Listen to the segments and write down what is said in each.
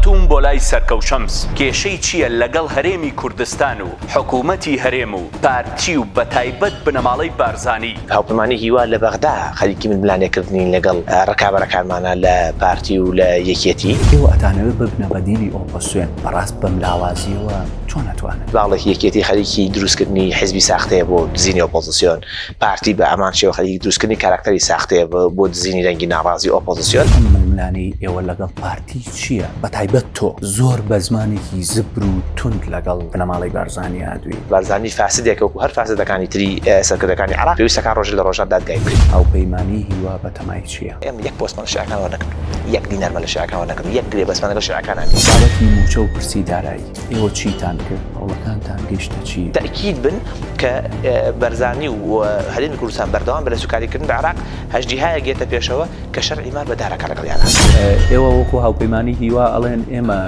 هاتووم بۆ لای سەرکەو شەمس کێشەی چیە لەگەڵ هەرێمی کوردستان و حکومەتی هەرێم و پارتی و بەتایبەت بنەماڵەی بارزانی؟ هاوپەیمانی هیوا لە بەغدا خەریکی ململانێ کردنین لەگەڵ ڕکابەرەکانمانا لە پارتی و لە یەکێتی. ئێوە ئەتانەوێ ببنە بەدیلی ئۆپۆسیۆن بەڕاست بەم لاوازیەوە چۆن ئەتوانن. باڵێکی یەکێتی خەریکی دروست کردنی حیزبی ساختەیە بۆ دزینی ئۆپۆزسیۆن. پارتی بە هەمان شێوە خەریکی دروستکردنی کاراکتەری ساختەیە بۆ دزینی دەنگی ناڕازی و ئۆپۆزسیۆن. ئەم ململانێی ئێوە لەگەڵ پارتی چییە؟ بەتایبەت تۆ زۆر بە زمانێکی زبر و توند لەگەڵ بنەماڵەی بارزانی هاتووی. بارزانی فاسدێکە وەکو هەر فاسدەکانی تری سەرکردەکانی عێراق، پێویستە کار ڕۆژێک لە ڕۆژان دادگای بکرێت. هاوپەیمانیی هیوا بەتەمای چییە؟ ئێمە یەک پۆستمان لە شیعەکان وەرنەگرتووە، یەک دینارمان لە شیعەکان وەرنەگرتووە، یەک گرێبەستمان لەگەڵ شیعەکاندا نییە. بابەتی مووچە و پرسی دارایی. ئێوە چیتان کرد هەوڵەکانتان گەیشتە چی؟ تەئکید بن کە بەرزانی و هەرێمی کوردستان بەردەوام بە لە سوکاریکردن بە عراق هەژدیهایەک دێتە پێشەوە کە شەرعی مار بەدارەکە لەگەڵیانا. ئێوە وەکو هاوپەیمانی هیوا ئەڵێن ئێمە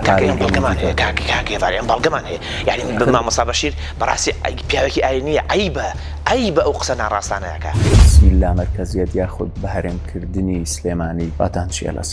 کاکە ئێمە بەڵگەمان هەیە کاک کاک هێڤار ئێمە بەڵگەمان هەیە یانی بە مامۆستا بەشیر بەڕاستی پیاوێکی ئاینییە عەیبە عەیبە ئەو قسە ناڕاستانەیە کە. بسم اللە مەرکەزیەت یاخود بەهەرێمکردنی سلێمانی ڕاتان چیە لەسەر؟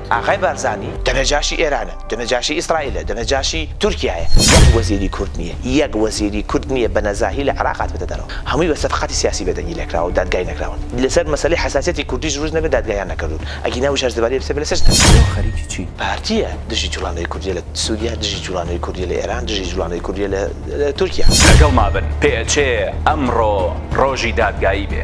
ئاغای بارزانی دەنەجاشی ئێرانە، دەنەجاشی ئیسرائیلە، دەنەجاشی تورکیایە، یەک وەزیری کورد نییە، یەک وەزیری کورد نییە بە نەزاهی لە عێراق هاتبێتە دەرەوە، هەمووی بە سەفقاتی سیاسی بێدەنگی لێکراوە و دادگای نەکراون، لەسەر مەسەلەی حەساسیەتی کوردیش رووز نەبێت دادگایان نەکردوون، ئەگینا وشار زەباری ئەبسێ بلە سجنن. ئێوە خەریکی چین؟ پارتیە دژی جوڵانەوەی کوردیە لە سوریا دژی جوڵانەوەی کوردیە لە ئێران دژی جوڵانەوەی کوردیە لە تورکیا. لەگەڵما بن پێئەچێ ئەمڕۆ ڕۆژی دادگایی بێ.